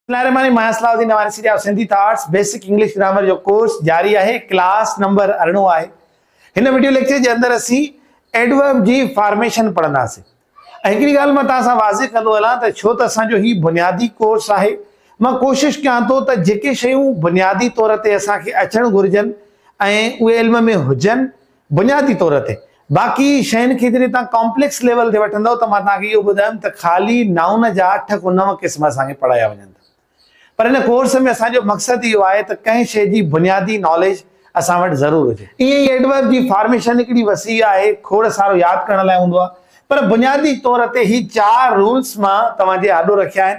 الله الرحمٰن الرحيم مايا Salahuddin Nawari Syed of Sindhi thoughts basic English grammar جو ڪورس جاري آهي ڪلاس نمبر ارڙهن آهي هن وڊيو ليڪچر جي اندر اسين ايڊورب جي فارميشن پڙهنداسين ۽ هڪڙي ڳالهه مان توهان سان واضح ڪندو هلان ته ڇو ته اسان جو هي بنيادي ڪورس آهي مان ڪوشش ڪيان ٿو ته جيڪي شيون بنيادي طور تي اسان کي اچڻ گهرجن ۽ اهي علم ۾ هجن بنيادي طور تي باقي شين کي جڏهن توهان ڪامپليڪس ليول تي وٺندؤ ته مان توهان کي اهو ٻڌايم ته خالي نائون جا اٺ ڪو نو قسم اسان کي پڙهايا وڃن ٿا پر هن ڪورس ۾ اسان جو مقصد اهو آهي ته ڪنهن شيء جي بنيادي ناليج اسان وٽ ضرور هجي. ائين ئي ايڊورب جي فارميشن هڪڙي وسيع آهي کوڙ سارو ياد ڪرڻ لاء هوندو آهي پر بنيادي طور تي هي چار رولس مان توهان جي آڏو رکيا آهن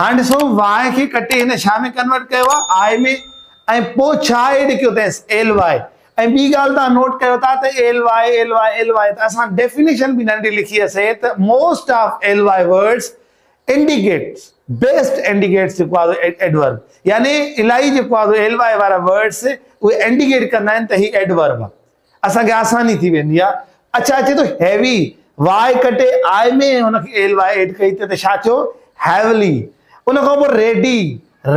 هاڻ ڏسو واء کي ڪٽي هن شا ۾ ڪنورٽ ڪيو آهي آء ۾ ۽ پوء ڇا ايڊ ڪيو اٿيس ايل واء ۽ ٻي ڳالهه توهان نوٽ ڪيو ٿا ته L Y L Y L Y ته اسان ڊيفينيشن به ننڍي لکي اسي ته most of L Y words indicates best indicates جيڪو آهي ايڊورب يعني الاهي جيڪو آهي ايل واء وارا ورڊز اهي انڊيڪيٽ ڪندا آهن ته هي ايڊورب آهي اسان کي آساني ٿي ويندي آ. اڇا اچي ٿو هيوي واء ڪٽي آء ۾ هن کي ايل واء ايڊ ڪئي ته ڇا ٿيو هيولي ان کان پوء ريڊي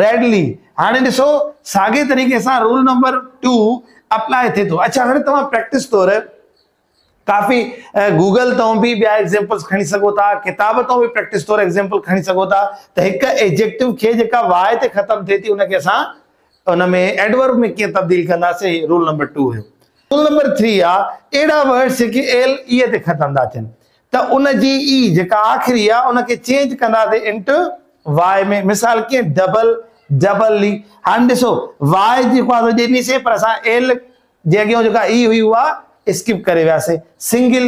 ريڊلي هاڻي ڏسو ساڳي طريقي سان رول نمبر ٽو اپلاء ٿئي ٿو اڇا هاڻي توهان پريڪٽس طور ڪافي گوگل تون به ٻيا ايگزامپلس کڻي سگهو ٿا ڪتاب تون به پريڪٽس طور ايگزامپل کڻي سگهو ٿا ته هڪ ايجيڪٽو کي جيڪا واء تي ختم ٿئي ٿي ان کي اسان ان ۾ Adverb ۾ ڪيئن تبديل ڪنداسين هي رول نمبر ٽو هيو. رول نمبر ٿري آ اهڙا ورڊز جيڪي ايل اي تي ختم ٿا ٿين ته ان جي اي جيڪا آخري آ ان کي چينج ڪنداسين انٽ وائي ۾ مثال ڪيئن ڊبل ڊبل لي هاڻي ڏسو وائي جي خواهه ته ڏنيسين پر اسان ايل جي اڳيان جيڪا اي هئي اها اسڪپ ڪري وياسين سنگل